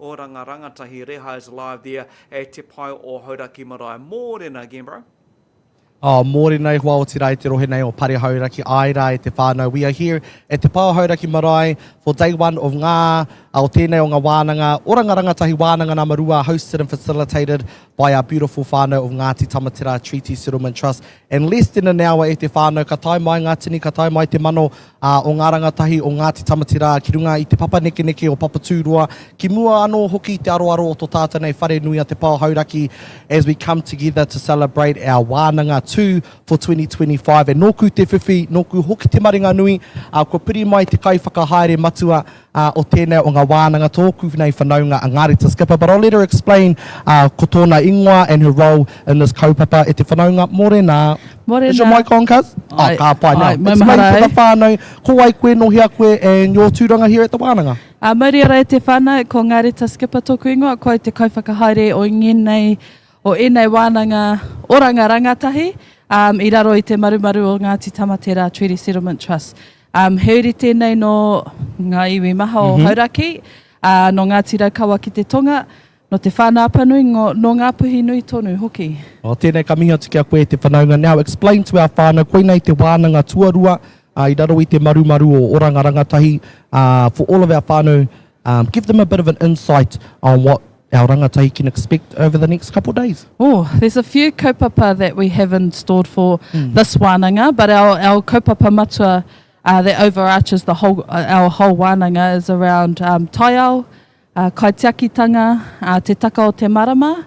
Oranga Rangatahi Reha is live there at Te Pae o Hauraki Marae. Mōrena again bro. Oh, mōrena e hoa otirā i te rohe nei o Pare Hauraki, āe rā e te whānau, we are here at Te Pae o Hauraki Marae for day one of ngā, a, o tēnei o ngā wānanga, Oranga Rangatahi Wānanga Nama Rua hosted and facilitated by our beautiful whānau of Ngāti Tamaterā Treaty Settlement Trust And less than an hour e te whānau ka tae mai ngā tini, ka tae mai te mano o ngā rangatahi o Ngāti Tamaterā ki runga i te papanekeneke o Papatūroa, ki mua anō hoki i te aroaro o to tātou nei whare nui a Te Pao Hauraki as we come together to celebrate our wānanga tū for 2025. E nōku te whiwhi, nōku hoki te maringanui, kua piri mai te kaiwhakahaere matua Ā, o tēnei o ngā wānanga tōku nei whanaunga a Ngārita Skipper, but I'll let her explain, ā, ko tōna ingoa and her role in this kaupapa e te whanaunga Morenā. Morena. Is your mic on, cuz? Aye. Oh, ka pai. Now, Aye, maumahara explain to ai. the whānau, ko wai koe, nō hea koe, and your tūranga here at the wānanga. Ā, mauri ora e te whānau, ko Ngārita Skipper tōku ingoa, ko au te kaiwhakahaere o ngēnei, o ēnei wānanga oranga rangatahi, um, i raro i te marumaru o Ngāti Tamaterā Treaty Settlement Trust. Um, he uri tēnei no nga iwi maha o Hauraki, a, no Ngāti Raukawa ki te tonga, no Te Whānāpanui, ngo, no Ngāpuhi nui tonu hoki. Oh, tēnei ka mihi atu ki a koe e te whanaunga. Now explain to our whānau, koinei te wānanga tuarua, ā, i raro i te marumaru o Oranga Rangatahi, ā, for all of our whānau, Give them a bit of an insight on what our rangatahi can expect over the next couple of days. Oh, there's a few kaupapa that we have in stored for mm. this wānanga, but our, our kaupapa matua uh, that overarches the whole, uh, our whole wānanga is around um, taiao, uh, kaitiakitanga, uh, te taka o te marama,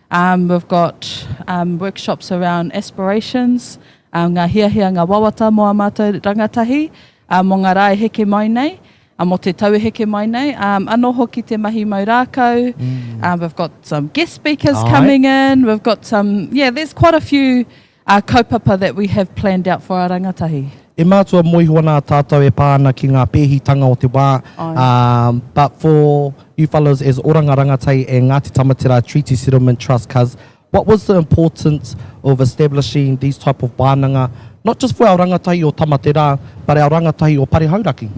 Um we've got um workshops around aspirations, um ngā hiahia, ngā wawata mō ā mātou rangatahi um mō ngā rā e heke mai nei, um mō te tau e heke mai nei, um anō hoki te mahi mau rākau, um we've got some guest speakers coming in, we've got some, yeah, there's quite a few Ā kaupapa that we have planned out for ā rangatahi. E mātua mō iho ana tātou e pā ana ki ngā pēhitanga o te wā, ā, but for you fellows as Oranga Rangatei and Ngāti Tamaterā Treaty Settlement Trust cuz what was the importance of establishing these type of wānanga not just for our rangatahi o Tamaterā but our rangatahi o Pare Hauraki?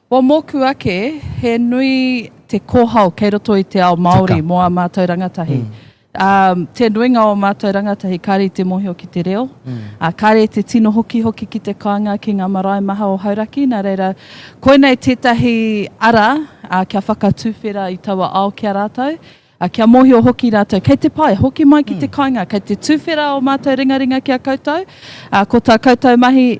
Kua mōku ake, he nui te kōhao kei roto i te ao Māori mō ā mātou rangatahi. Ā, te nuinga o ā mātou rangatahi, kāre i te mōhio ki te reo, ā, kāre i te tino hokihoki ki te kāinga, ki ngā marae maha o Hauraki, nā reira, koinei tētahi ara kia whakatuwhera i taua ao ki a rātou, ā, kia mōhio hoki rātou, kei te pae, hoki mai ki te kāinga, kei te tuwhera ō mātou ringaringa ki a koutou, ā, ko tā koutou mahi,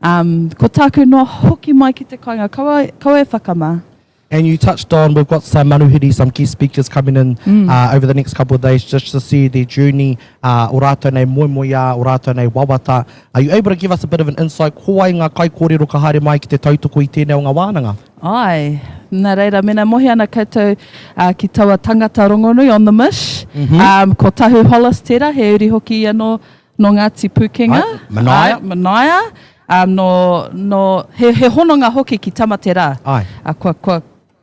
Um, ko tāku noa hoki mai ki te kāinga, kaua, kaua e whakamā. And you touched on, we've got some manuhiri, some guest speakers coming in mm. uh, over the next couple of days just to see their journey, uh, o rātou nei moemoeā, o rātou nei wawata. Are you able to give us a bit of an insight? Ko ai ngā kai kōrero ka haere mai ki te tautoko i tēnei o ngā wānanga? Ai, nā reira, mena mohi ana koutou uh, ki taua tangata rongonui on the mish, mm -hmm. um, ko Tahu Hollis tērā, he uri hoki anō Nō Ngāti Pūkenga. Ai, Manaia. Ai, Manaia. Um, nō, nō, he, he hononga hoki ki Tamaterā. Ai. Uh, kua, kua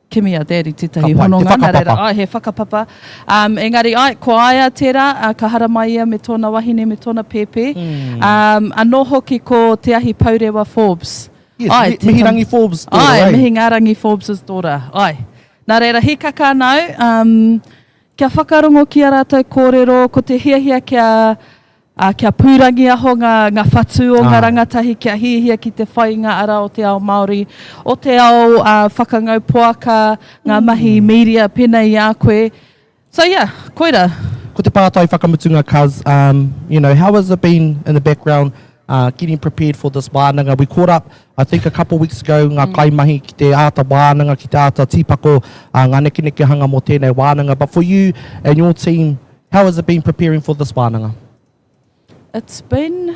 kimi a Daddy tētahi Kapai, hononga. Te whakapapa. Rera, ai, he whakapapa. Um, engari, ai, ko aia tērā, uh, ka haramai ia me tōna wahine, me tōna pēpē. Mm. Um, anō hoki ko Te Ahi Pourewa Forbes. Yes, ai, mi, Mihirangi tam... Forbes tōra. Ai, ai, eh? Mihingarangi Forbes' tōra. Ai. Nā reira, hikaka nāu. Um, Kia whakarongo ki a ratou korero, ko te hiahia kia kia pūrangiaho nga nga whatu o nga rangatahi kia hiahia ki te whai i nga ara o te ao Maori, o te ao whakangau poaka, nga mahi miria penei i a koe. So yeah, koira. Ko te pātai whakamutunga cuz um you know how has it been in the background Getting prepared for this wānanga, we caught up I think a couple weeks ago ngā kaimahi ki te āta wānanga, ki te āta tīpako ngā nekenekehanga mō tēnei wānanga but for you and your team, how has it been preparing for this wānanga? It's been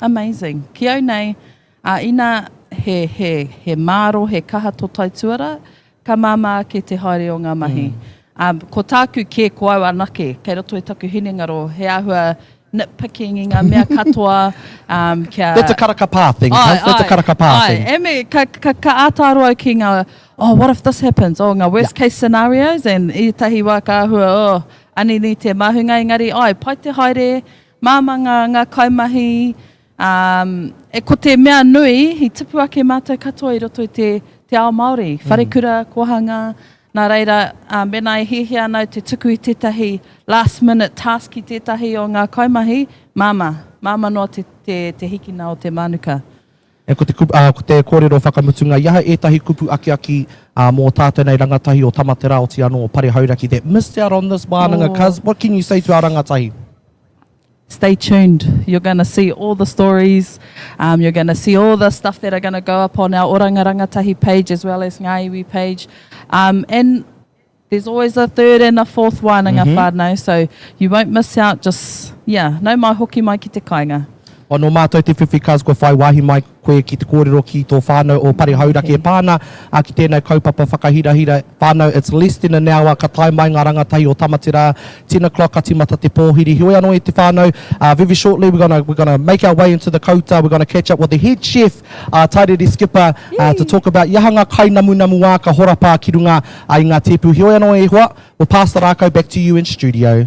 amazing. Ki au nei, ina he māro, he kaha tō taituara, Ka māmā ake te haere o ngā mahi. Ā, ko tāku kē, ko au anake. Kei roto i taku hinengaro, he āhua nitpicking i ngā mea katoa, ā, kia. That's a karaka pā thing, Āe, Kath, that's a āe, karaka pā āe. thing. E me, ka, ka, ka āta aro au ki ngā, oh, what if this happens? Oh, ngā worst Yeah. case scenarios, and i ētahi wā ka āhua, oh, anini te māhunga, engari, āe, pai te haere, māmā ngā, ngā kaimahi, Ā, ko te mea nui, i tupu ake mātou katoa i roto i te, te ao Māori, wharekura, kōhangā, nā reira, ā, mēnā e hiahia ana au te tuku i tētahi last minute task ki tētahi o ngā kaimahi, māmā, māmā noa te, te, te hikina o te mānuka. Ā, ko te kupu, ā, ko te kōrero whakamutunga, i aha ētahi kupu akiaki, ā, mō tātou nei rangatahi o Tamaterā, oti anō o Pare Hauraki that missed out on this wānanga, cuz what can you say to our rangatahi? Stay tuned, you're gonna see all the stories, um, you're gonna see all the stuff that are gonna go up on our Oranga Rangatahi page as well as Ngā Iwi page. Um, and there's always a third and a fourth wānanga mm-hmm. whānau, so you won't miss out, just, yeah, nau mai hoki mai ki te kāinga. Ono mātou te whiwhi cars kua whai wāhi mai. koe ki te kōrero ki tō whānau o Pari Hauraki e pā ana ki tēnei kaupapa whakahirahira whānau It's less than an hour ka tae mai ngā rangatahi o Tamaterā ten o'clock ka tīmata te pōhiri heoi anō e te whānau very shortly we're gonna we're gonna make our way into the kouta we're gonna catch up with the head chef Tairere Skipper to talk about i aha ngā kainamunamu ā ka horapa ki runga i ngā tēpu heoi anō e hoa we'll pass the rākau back to you in studio.